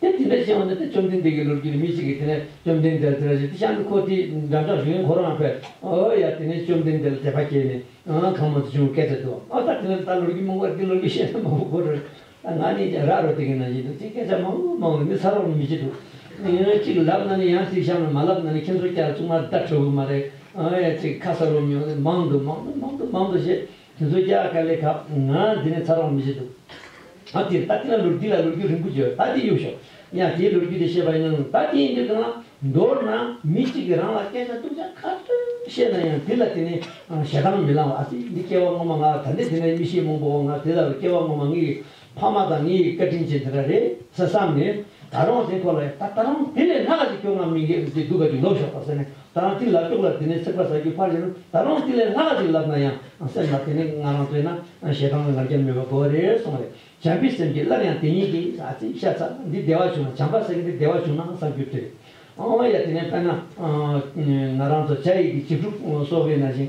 དེ་དེ་འདྲ་བཞིན་འོ་ན་དེ་བཅོམ་ལྡན་འདས་ཀྱི་ལུགས་ཀྱི་ནི་མི་གཅིག་གིས་དེ་ནས་བཅོམ་ལྡན་འདས་ལ་དེ་འདྲ་བཞིན་དེ་ཤར་ནུ་ཁོ་དེའི་འགྲམ་ལྕགས་གཞུང་ཡང་ཁོ་རང་བས། ཨོ་ཡ་དེ་ནས་བཅོམ་ལྡན་འདས་ལ་དད་པ་སྐྱེས་ནས། གང་མང་དུ་བྱུང་བས་སྐད་ཆ་དུ། ཨོ་ད་དེ་ནས་ད་ལུགས་ཀྱི་མོ་འགོར་འདི་ལུགས་ཀྱི་བཤད་ན་མ་བུ་འགོ་རུ། ད་ང་ནི་ར་རོ་དེ་གི་ན་བཞིན་དུ་ཅིག་སྐད་ཆ་མང་བོ་མང་བོ་མི་ཚར་རོགས་ནི་མི་བྱེད་དོ། ཅིག་ལབ་ན་ནི་ཡང་ཅིག་བཤམས་ལ་མ་ལབ་ན་ནི་ཁྱེད་ཚོ་སྐྱ་ར་བཙུགས་མ་ད་ཁྲོ་བོའི་མ་རེད། ཨོ་ཡ་ཅིག་ཁ་ས་རུ་མྱོང་ནས་མང་དུ་མང་དུ་མང་དུ་མང་དུ་ཞེས། དེ་ཚོ་རྒྱ་གར་ལས་ཁབ་ང་འདི་ནས་ཚར་རོགས་མི་བྱེད་འདུག་ཨ་དེར་ད་དེ་ལ་ལུར་དེ་ལ་ལུར་རྒྱུག་རིང་པོ་བྱོས་ད་དེ་གཡུག་ཤོག་ཡང་དེའི་ལུར་རྒྱུག་དེ་བཤད་པ་ཡིན་ནའང་ད་དེ་ཡིན་དུས་གང་ལ་མདོར་ན་མི་གཅིག་གིས་རང་ལ་སྐད་ཆ་སྟུག་ཅག་ཁ་ཐུག་བཤད་ན་ཡང་དེ་ལ་དེ་ནི་ཞེ་སྡང་མི་ལང་བ་ཨ་དེ་འདི་སྐྱེ་བ་སྔོན་མ་ང་ལ་ད་འདི་དེ་ནས་མི་ཤེས་མོང་པོ་བ་ང་དེ་ལྟ་བུ་སྐྱེ་བ་སྔོན་མ་ངའི་ཕ་མ་དང་ངའི་བཀའ་དྲིན་ཅན་དེ་འདྲ་རེད་ཟེར་བསམ་ནས། ད་རུང་དེ་ཁོ་ལ་ཡང་ད་རུང་དེ་ལས་སྔ་ལ་ཅིག་སྐྱོ་ངང་མི་འགས་པའི་ཚེ་སྡུག་ག་ཅིག་ལོབས་ཤོག་པ་ཟེར་ནས་ད་རང་གཅིག་ལབ་ཆོག་ལ་དེ་ནས་ཚེག་བར་ཟ་རྒྱུ་ཕར་ཞོག་ད་རུང་དེ་ལས་སྔ་ལ་ཅིག་ལབ་ན་ཡང་སེམས་ལ་དེ་ནས་ང་རང་ལྟོས་ན་ཞེ་སྡང་བའི་ངར་སྐྱབས་མེད་པ་གོ་རེ་སོང་རེ་བྱམས་པའི་སེམས་ཀྱིས་སླར་ཡང་དེ་གཉིས་ཀྱི་ཨ་ཙི་ཤ་ཚ་འདི་བདེ་བ་བྱུང་ན་བྱམས་པ་སེང་གེ་འདི་བདེ་བ་བྱུང་ན་བསམ་རྒྱུ་དེ་རེད། ཨ་ཨོ་ཡ་དེ་ནས་དཔེར་ན། ང་རང་ཚོ་བྱ་ཡིག་གི་བྱིས་ཕྲུག་སོ་བས་ན་བཞིན་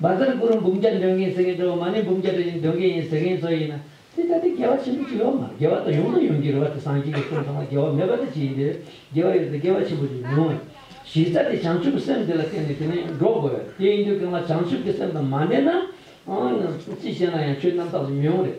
འབར་རྫ་རྐུ་རུ་འབུམ་བརྒྱ་འདོན་མཁན་ཟེར་མཁན་ཁྲོ་བོ་མ་ནི་འབུམ་བརྒྱ་དྲིལ་ནི་འདོན་མཁན་ཡིན་ཟེར་མཁན་ཚོ་ཡིན་ན། དེ་ལྟ་སྟེ་དགེ་བ་ཆེན་པོ་ཅི་ཡོད་མ་རེད་དགེ་བ་དང་ཡོང་དང་ཡོང་གི་རེད་བ་དེ་སངས་རྒྱས་ཀྱི་གསུང་ཚང་མ་དགེ་བ་མེད་པ་དེ་ཅི་ཡིན་དེ། དགེ་བ་ཡོད་དེ་དགེ་བ་ཆེན་པོ་ཅིག་མི་འོང། གཞི་རྩ་དེ་བྱང་ཆུབ་སེམས་དེ་ལ་བརྟེན་ནས་དེ་ནས་འགྲོ་དགོས། དེ་ཡིན་དུས་གང་ལ་བྱང་ཆུབ་ཀྱི་སེམས་དང་མ་འབྲེལ་ན། ཅི་བྱས་ན་ཡང་ཆོས་རྣམ་དག་ཅིག་མི་འོང་རེད།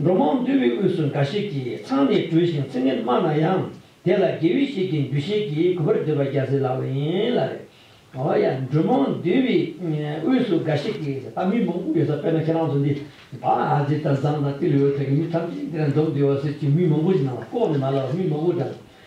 འགྲོ་མང་འདུས་པའི་དབུས་སུ་འགའ་ཞིག་གིས་ཚང་ནས་བྲུས་ཤིང་ཚིག་ངན་སྨྲ་ན་ཡང་དེ་ལ་དགེ་བས་ཤིག་གིས་འདུ་ཤེས་ཀྱིས་གུས་པར་འདོད་པ་རྒྱ་ཟིལ་ལགས་པ་ཡིན་ལ། འོ་ཡ་འགྲོ་མང་འདུས་པའི་དབུས་སུ་འགའ་ཞིག་གིས་ད་མི་མང་པོ་ཡོད་ས་དཔེར་ན་ཁྱེད་རང་ཚོ་འདི་བ་ཨ་ཛི་དང་ཛམ་དང་ཏི་ལི་འོད་ཐད་ཀྱི་མི་ཐམས་ཅད་འདི་ར་འཛོམས་འདི་བ་ཟེར་གྱིས་མི་མང་པོ་ཞིག་ནང་ལ་ལྐོག་ནས་མ་ལབ་པར་མི་མང་པོ་དང་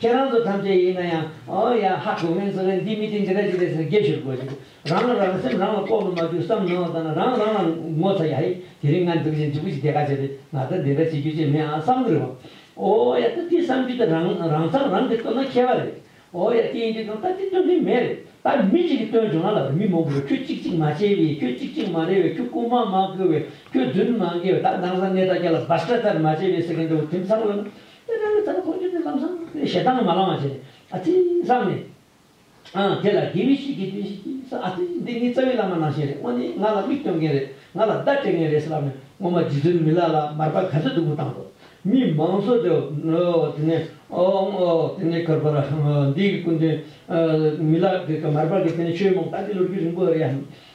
ཁྱེད་རང་ཚོ་ཐམས་ཅད་ཡིན་ན་ཡང་ཨོ་ཡ་ཧ་གོ་མེད་ཚོ་རེད་འདི་མི་དེ་འདི་རེད་འདི་རེད་ཟེར་ནས་རྒྱབ་ཤོར་དགོས་ཀྱི་འདུག་རང་ལ་རང་སེམས་རང་ལ་ལྐོག་ཏུ་མ་རྒྱུག་བསམ་གནང་བ་ལྟ་ན་རང་རང་ལ་ངོ་ཚ་ཡ་ཧེ་དེ་རིང་ང་འདུག་བཞིན་འཇུག་གི་དེ་ག་བྱས་པས་ང་ད་འདི་འདྲ་བྱེད་རྒྱུ་ཅི་མེད་ཨང་བསམ་གི་རེད་བ། ཨོ་ཡ་ད་འདི་བསམ་རྒྱུ་དེ་རང་རང་མཚམས་རང་གིས་བཏོན་ན་མཁས་པ་རེད། ཨོ་ཡ་དེ་ཡིན་དུས་དང་ད་འདི་བཏོན་མཁན་མེད་རེད་ད་མི་གཅིག་གིས་བཏོན་བྱུང་ང་ལ་བར་མི་མང་པོ་རེད་ཁྱོད་གཅིག་གཅིག་མ་བྱས་བས་ཁྱོད་གཅིག་གཅིག་མ་རེད་བས་ཁྱོད་རྐུན་མ་མ་བཀོལ་བས་ཁྱོད་རྫུན་མ་འགེལ་བས་ད་འདང་ས་གནས་ད་ཀྱ་ལ་བཱ་སྐྲ་ལྟར་མ་བྱས་བས་ཟེར་མཁན་འདྲ་བོ་དེ་མཚམས་ལ་ན་དེ་ལྟར་ད་ནི་ཁོ་སྐྱོན་ཅན་ཙམ་སང་ཕོད་ཞེ་སྡང་མ་ལང་བ་བྱས་ནས་ཨ་ཙི་བསམ་ནས། ཨང། དེ་ལ་དགེ་བའི་བཤེས་ཀྱིས་དེ་བཞིན་གྱིས་སང་ཨ་ཙི་འདི་ངའི་རྩ་བའི་བླ་མ་ནང་བཞིན་རེད་དངོས་གནས་ང་ལ་མིག་སྟོན་མཁན་རེད་ང་ལ་བརྡ་སྤྲད་མཁན་རེད་ཟེར་བ་ནི་ངོ་མ་རྗེ་བཙུན་མི་ལ་ལ་མར་པ་ག་ཚོད་སྡུག་པོ་བཏང་འདུག་མི་མང་ཚོ་དེ་འོ་དེ་ནས་འོ་ཨང་འོ་དེ་ནས་ཁར་པར་འོ་འདི་གི་སྐུ་མདུན། མི་ལ་གི་མར་པ་གི་དེ་ནས་ཆོས་མང་དག་གི་ལོ་རྒྱུས་རིང་པོ་རེད་ཨང།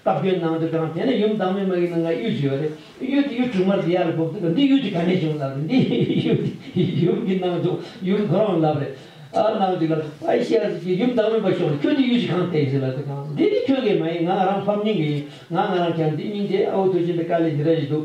སྟབས་ཀྱིས་ནང་དུ་དྲངས། དེ་ནས་ཡུམ་བདག་མེད་མ་གིས་ནང་ལ་གཡུལ་བྱས་པ་རེད། གཡུལ་དེ་གཡུལ་དྲུག་མར་དེ་ཡར་ལ་བབས་འདུག་ག་འདི་གཡུལ་གྱི་ག་ནས་བྱུང་ལབ་རེད། འདི་གཡུལ་དེ་ཡུམ་གྱི་ནང་དུ་ཡུམ་ཁོ་རང་ལབ་རེད། ཨ་ནང་དུ་ལབ། ཨ་ཤེ་ཨ་ཟེར་གྱིས་ཡུམ་བདག་མེད་པ་ཤོག་རེད་ཁྱོད་འདི་གཡུལ་གྱི་གང་བལྟས་ཟེར་ལབ་དེ་གང་འདི་འདི་ཁྱོད་ཀྱི་མ་ཡིན་ང་ང་རང་ཕམ་ཉེས་ཀྱི་ཡིན་ང་ང་རང་གྱ་འདི་སྙིང་རྗེ་ཨ་ཨོ་ཐུགས་ཆེན་པའི་བཀའ་ལས་འདི་འདྲ་ཞིག་འདུག།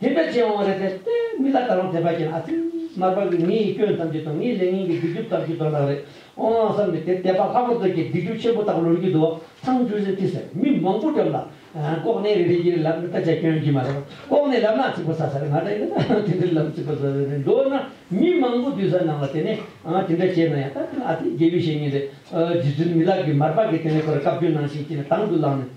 དེ་འདྲ་བྱེད་འོང་རེད་ཟེར་ཏེ་མི་ལ་ད་རུང་དེ་འདྲ་བྱེད་ན་ཨ་ཙི། མར་པ་གིས་ངེད་ཡིད་སྐྱོན་ཐམས་ཅད་དང་ངེད་ལས་ངན་གྱི་སྡིག་སྒྲིབ་ཐམས་ཅད་དོར་ན་རེད་འོང་ཨང་བསམ་ནས་དེར་བསྡད་པ་ལྷག་པར་དུ་ཁྱེད་སྡིག་སྒྲིབ་ཆེན་པོ་དག་ལོན་གྱི་འདུག་ཚང་ཆུ་སེར་ཐི་སེར་མི་མང་པོ་འགྲམ་ལ། ལྐོག་ནས་རེ་རེ་བཞིན་རེ་ལབ་ན་ད་ཆ་སྐྱོན་གྱི་མ་རེད་པ་ལྐོག་ནས་ལབ་ན་ཚིག་པ་ཟ་ས་རེད་ང་ད་ཡིན་ན་ད་དེ་འདྲའི་ལམ་ཚིག་པ་ཟ་ས་རེད་མདོར་ན་མི་མང་པོ་འདུས་ས་ནང་ལ་དེ་ནས་དེ་འདྲ་བྱས་ན་ཡང་ད་དེ་ལ་ཨ་ཙི་རྒྱལ་པོས་བཤད་ངེས་རེད་རྗེ་བཙུན་མི་ལགས་ཀྱིས་མར་པ་གིས་དེ་ནས་ཁོ་ར་བཀའ་བཀྱོན་ནང་བཞིན་བྱས་ནས་དང་དུ་བླངས་ནས།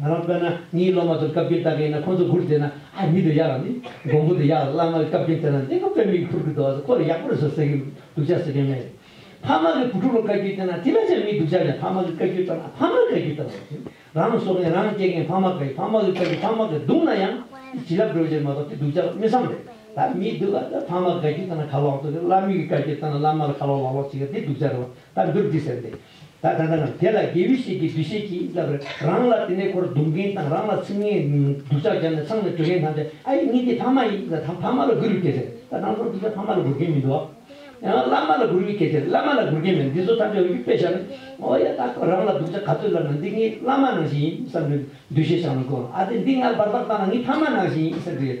ང་རང་དཔེར་ན་ངའི་སློབ་མ་ཚོར་བཀའ་བཀྱོན་བཏང་གི་ཡིན་ན་ཁོ་ཚོ་མགུར་བཟས་ན་ཨ་མི་འདུག་ཡག་རང་མི་འགོང་པོ་འདུག་ཡག་རང་བླ་མ་གི་བཀའ་བཀྱོན་བཏོན་ན་གླིང་བུ་དཔེར་མིག་ཕུར་གི་འདུག་ཨ་ས་ཁོ་ལ་ཡག་པོ་རེད་ཟེར་ཟེར་གི་འདུག་ཅག་ཟེར་མཁན་མེད། ཕ་མ་གི་བུ་ཕྲུག་ལ་བཀའ་བཀྱོན་བཏོན་ན་དེ་འདྲ་ཅང་མི་འདུག་ཅག་ཀྱང་ཕ་མ་གི་བཀའ་བཀྱོན་བཏང་ན་ཕ་མ་གི་བཀའ་བཀྱོན་བཏང་བ་ཡིན་ཟེར། རང་ལ་བཟོ་མཁན་རང་སྐྱེ་མཁན་ཕ་མ་ག་ཡིན་ཕ་མ་གི་བཀའ་བཀྱོན་ཕ་མ་གིས་བརྡུང་ན་ཡང་དེ་བྱིན་རླབས་སྒྲོལ་བ་ཅན་མ་གཏོགས་དེ་འདུག་ཅག་དམེ་བསམ་རེད་ད་མི་འདུག་ཨ་ད་ཕ་མ་གི་བཀའ་བཀྱོན་བཏང་ན་ཁ་ལོག་འདུག་གི་བླ་མེད་ཀི་བཀའ་བཀྱོན་བཏང་ན་བླ་མ་ལ་ཁ་ལོག་ལག་ལོག་བྱེད་ཀི་དེ་འདུག་ཅག་རེད་བ་ད་འདིར་འདི་ཟེར་འདི་ད་ལྟ་ནི་དེ་ལ་དགེ་བའི་བཤེས་ཀྱི་འདུ་ཤེས་ཀྱིས་བསླབ་པས་རང་ལ་དེ་ནས་ཁོར་རྡུང་མཁན་དང་རང་ལ་ཚིག་ངན་སྡུག་ཅག་བརྒྱབ་ནས་མཚང་ནས་གྲོས་མཁན་ཐམས་ཅད་ཨ་ཡེ་གཉིས་འདི་ཕ་མ་ཡིན་ད་ད་ཕ་མ་ལ་སྒུར་བའི་སྐད་ཆ་རེད་ད་རང་ཚོ་འདི་ཚོ་ཕ་མ་ལ་སྒུར་མཁན་མི་འདུག་ཨ་ཡང་བླ་མ་ལ་སྒུར་བའི་སྐད་ཆ་རེད་བླ་མ་ལ་སྒུར་མཁན་མེད་འདི་ཚོ་ཐམས་ཅད་འོ་ཡུག་པས་བཞག་ནས་འོ་ཡ་ད་ཁོ་རང་ལ་སྡུག་ཅག་ག་ཚོད་བསླབ་ན་འདི་ངའི་བླ་མ་ནང་བཞིན་ཡིན་བསམ་པའི་འདུ་ཤེས་བཞག་ན་དགོས་ཨ་དེ་འདི་ངར་སྦར་སྦར་བཏང་ན་ངའི་ཕ་མ་ནང་བཞིན་ཡིན་བསམ་གྱི་ཡོད་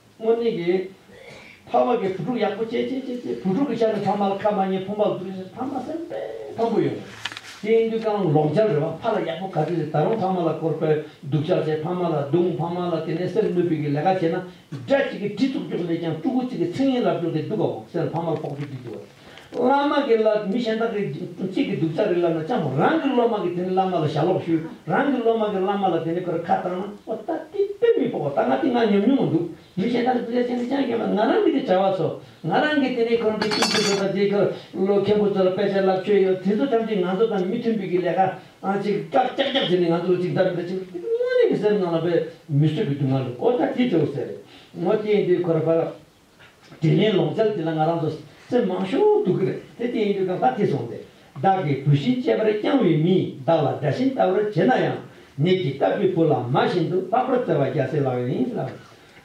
སྔོན་གནས་ཀྱི། ཕ་མ་གི་བུ་ཕྲུག་ཡག་པོ་སྐྱེས་སྐྱེས་སྐྱེས་སྐྱེས་བུ་ཕྲུག་གི་ཆ་ནས་ཕ་མ་ལ་ཁ་མ་ཉེ་ཕུ་མ་བཟོ་རེ་བྱེད་ཕ་མ་སེམས་དཔའ་དམ་པོ་ཡོད། སྐྱེས་འདུས་རྐང་ལག་ལོག་འཇལ་རེ་བ་ཕ་ལ་ཡག་པོ་ག་དུས་རེད་ད་རུང་ཕ་མ་ལ་སྐོར་སྤེལ་སྡུག་ཅག་བྱེད་ཕ་མ་ལ་རྡུང་ཕ་མ་ལ་དེ་ནས་སེམས་གནོད་སྤུས་ཀྱི་ལས་ཀ་བྱེད་ན་དགྲ་གཅིག་གིས་གྲི་བཙུགས་རྒྱུགས་ལས་ཀྱང་སྤྲུ་གུ་གཅིག་གིས་ཚིག་ངན་ལབ་རྒྱུགས་ཏེ་སྡུག་ག་འོག་གསལ་ལ་ཕ་མ་ལ་ཕོག་ཐུག་བགྱིད་ཀྱི་འོས། བླ་མ་གིས་ལ་མི་གཞན་དག་གིས་ཚིག་གི་སྡུག་ཅག་རིགས་ལབ་ན་ཅང་མོ། རང་གི་སློབ་མ་གིས་དེ་ནི་བླ་མ་ལ་ཞྭ་ལོག་ཞུས། རང་གི་སློབ་མ་གིས་བླ་མ་ལ་དེ་ནི་ཁོར་ཁ་བཏང་ན། ཨོ་ད་དེ་དཔེ་མི་ཕོག་པ་ད་ང་དེ་ང་ཉམས་མྱོང་མ་འདུག་མི་གཞན་དག་གིས་སྡུག་ཅག་བྱས་འདི་ཅང་སྐྱོན་མེད་ང་རང་གི་དེ་བྱ་བ་ཚོ། ང་རང་གིས་དེ་ནི་ཁོར་འདི་ཀུན་སྤྱོད་དགོས་པ་འདི་ཁོར་ལོ་མཁན་པོ་ཚོ་ལ་དཔེ་ཆ་ལབ་ཆོད་ཡོད་དེ་ཚོ་ཐམས་ཅད་ང་ཚོ་དང་མི་མཐུན་པའི་གི་ལས་ཀ་ཅིག་སྐྲག་ཀྱག་ཀྱག་བྱས་ནས་ང་ཚོ་ལ་ཅིག་བདག་མེད་ད་ཅིག་དེ་དངོས་གནས་ཀྱི་སེམས་ནང་ལ་དཔེ་མི་བཟོད་པའི་སྡུག་བསྔལ་འདུག་ཨོ་ད་དེ་དེ་འོ་ཟེར་རེད་ངོ་དེ་ཡིན་དུས་ཁོ་ར་བ། དྲིན་ལན་ལོག་འཇལ་དེ་ལ་ང་རང་ཚོ་སེམས་མང་ཤོག་འདུག་གི་རེད་དེ་ལྟས་ཡིན་དུས་ཀ་ཁ་ཐེ་སོང་སྟེ་བདག་གིས་བུ་བཞིན་གཅེས་པར་བསྐྱངས་བའི་མིས་བདག་ལ་དགྲ་བཞིན་ལྟ་བར་བྱེད་ན་ཡང་ནད་ཀྱིས་བཏབ་པའི་བུ་ལ་མ་བཞིན་དུ་ལྷག་པར་བརྩེ་བ་རྒྱ་སེ་ལགས་ཡིན་ལ།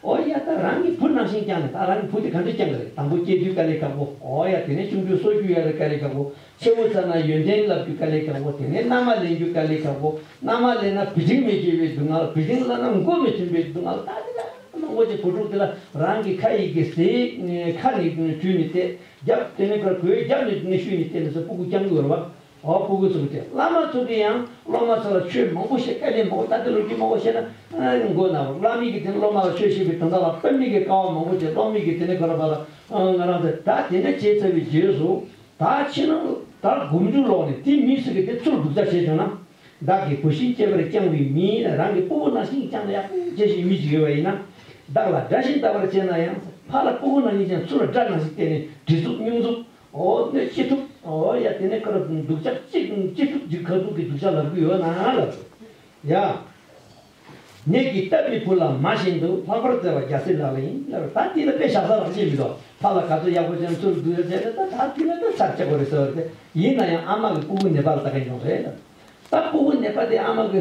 འོ་ཡ་ད་རང་གིས་བུ་ནང་བཞིན་བསྐྱངས་ནས་ད་རང་གི་བུ་དེ་ག་འདྲས་བསྐྱངས་གི་རེད་དང་པོ་སྐྱེས་དུས་དཀའ་ལས་ཁག་པོ་འོ་ཡ་དེ་ནས་ཆུང་དུས་སོ་རྒྱུས་ཡ་རེད་དཀའ་ལས་ཁག་པོ་ཆེན་མོ་ཚར་ན་ཡོན་ཏན་བསླབ་རྒྱུ་དཀའ་ལས་དྲག་པོ་དེ་ནས་མནའ་མ་ལེན་རྒྱུ་དཀའ་ལས་དྲག་པོ། མནའ་མ་ལེན་ན་བུ་ཆུང་མི་སྐྱེ་བའི་སྡུག་བསྔལ་བུ་ཆུང་བླ་ན་མགོ་མི་ཐོན་པའི་སྡུག་བསྔལ་ད་དེ་འདྲ་མང་པོ་ཆེ་བུ་ཕྲུག་དེ་ལ་རང་གི་ཁ་ཡི་གེ་གཟིགས་ཁ་ནི་དྲུད་ནས་བལྟས་རྒྱབ་དེ་ནས་གོས་རྒྱབ་ནས་ནི་ཤུལ་ནས་བལྟས་མི་སྲིད་སྤུ་གུ་རྐྱང་གི་འོད་བ་འོ་སྤུ་གུ་ཚོ་གི་དེ་བླ་མ་ཚོ་གི་ཡང་སློབ་མ་ཚོ་ལ་ཆོས་མང་པོ་བཤད་དཀའ་ལས་མང་པོ་ད་ལྟའི་ལོ་རྒྱུས་མང་པོ་བཤད་ན་མགོ་ན་བ་བླ་མིག་གི་དེ་ནས་སློབ་མ་ལ་ཆོས་བཤད་པའི་དོན་དག་ལ་དཔེ་མིག་གི་དཀའ་བ་མང་པོ་ཆེ་སློབ་མིག་གི་དེ་ནས་གོ་ལ་བ་ལ་ང་རང་ཚོ་ད་དེ་འདྲ་བྱས་ཚར་བའི་རྗེས་སུ་ད་ཕྱི་ནང་ཟླ་དགུ་མཇུག་ལོག་ནས་དེ་མིས་སུ་གི་དེ་ཚུར་སྒུག་བྱ་བྱས་བྱུང་ན། བདག་གི་བུ་ཤིང་སྐྱེས་པར་བསྐྱངས་བའི་མིས་རང་གི་སྤུ་བོ་ནང་ཤིང་བསྐྱངས་ན་ཡག་པོ་བྱས་ཞེས་མིས་ཅིག་ཡོད་པ་ཡིན་ན། བདག་ལ་དགྲ་ཤིང་བལྟ་བར་བྱེད་ན་ཡང་ཕ་ལ་སྤུ་བོ་ནང་གཉིས་ཀྱང་ཚུར་ལ་དགྲ་ནང་ཞིག་བལྟས་ནས་གྲི་གཟུགས་སྨྱུག་གཟུགས་འོ་སྣོད་ཅི་ཐུབ་འོ་ཡ་དེ་ནས་ཁར་སྡུག་ཅག་ཅིག་ཅི་ཐུབ་ཅིག་ཁ་སྡུག་གི་སྡུག་ཅག་ལབ་གི་ཡོད་ན་ལབ། ཡ། ནས་ཀྱི་སྟབས་ཀྱི་བུ་ལ་མ་བཞིན་དུ་ལྷག་པར་བརྩེ་བ་རྒྱ་སེ་ལགས་ལ་ཡིན་ལ་རེད་ད་དེ་ལ་དཔེ་བཞག་ས་རང་ཆེ་མི་འདུག་ཕ་ལ་ག་ཚོད་ཡག་པོ་བྱས་ན་ཚུར་སྡུག་ཡོད་ཟེར་ལེ་ད་ད་དེ་ལ་ད་ཚར་ཆག་གོ་རེ་ཟེར་བ་རེད་ཡིན་ན་ཡང་ཨ་མ་གི་སྤུ་བུ་ནད་པ་ལ་ལྟ་མཁན་ཡོང་རེད་ད་སྤུ་བུ་ནད་པ་དེ་ཨ་མ་གི།